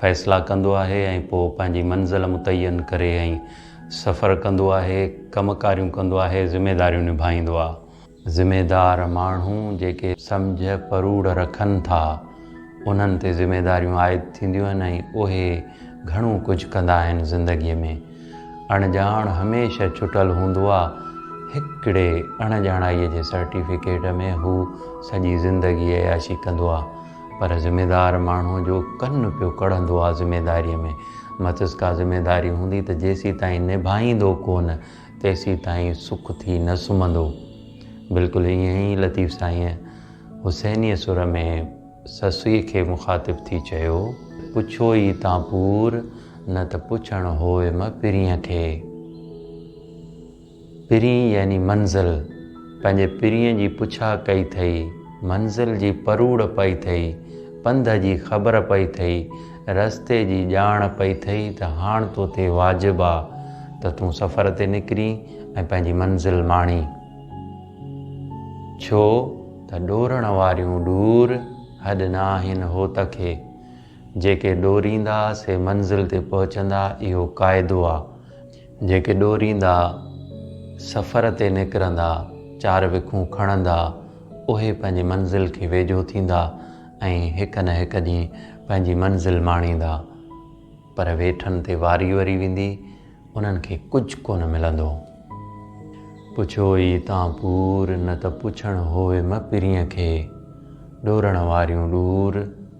فيصلا ڪندو آهي ۽ پوء پنهنجي منزل متعين ڪري ۽ سفر ڪندو آهي، ڪم ڪاريون ڪندو آهي، ذميداريون نڀائيندو آ. ذميدار ماڻهو جيڪي سمجهه پروڙ رکن ٿا، انهن تي ذميداريون عائد ٿينديون آهن ۽ اهي گهڻو ڪجهه ڪندا آهن زندگيء ۾. اڻڄاڻ هميشه چٽل هوندو آ، هڪڙي اڻڄاڻائيء جي سرٽيفڪيٽ ۾ هو سڄي زندگي عياشي ڪندو آ. پر ذميدار ماڻهو جو ڪن پيو ڪڙهندو آ ذميداريء ۾، مٿس ڪا ذميداري هوندي ته جيسين تائين نڀائيندو ڪونه تيسين تائين سک ٿي نه سمهندو. بلڪل ائين ئي لطيف سائينء حسينيء سر ۾ سسئي کي مخاطب ٿي چيو، پڇو ئي تان پور، نه ته پڇڻ هوء م پرينء کي. پرينء يعني منزل، پنهنجي پرينء جي پڇا ڪئي ٿئي، منزل جي پروڙ پئي ٿئي، پنڌ جي خبر پئي ٿئي، رستي جي ڄاڻ پئي ٿئي ته هاڻ تو تي واجب آ ته تون سفر تي نڪرين ۽ پنهنجي منزل ماڻين. ڇو ته ڏورڻ واريون ڏور هڏ نه آهن هوت کي، جيڪي ڏوريندا سي منزل تي پهچندا اهو قاعدو آ. جيڪي ڏوريندا، سفر تي نڪرندا، چار وکون کڻندا، اهي پنهنجي منزل کي ويجهو ٿيندا ۽ هڪ نه هڪ ڏينهن پنهنجي منزل ماڻيندا، پر ويٺن تي واري وري ويندي، انهن کي ڪجهه ڪونه ملندو. پڇو ئي تان پور، نه ته پڇڻ هووي مپرينء کي، ڏورڻ واريون ڏور،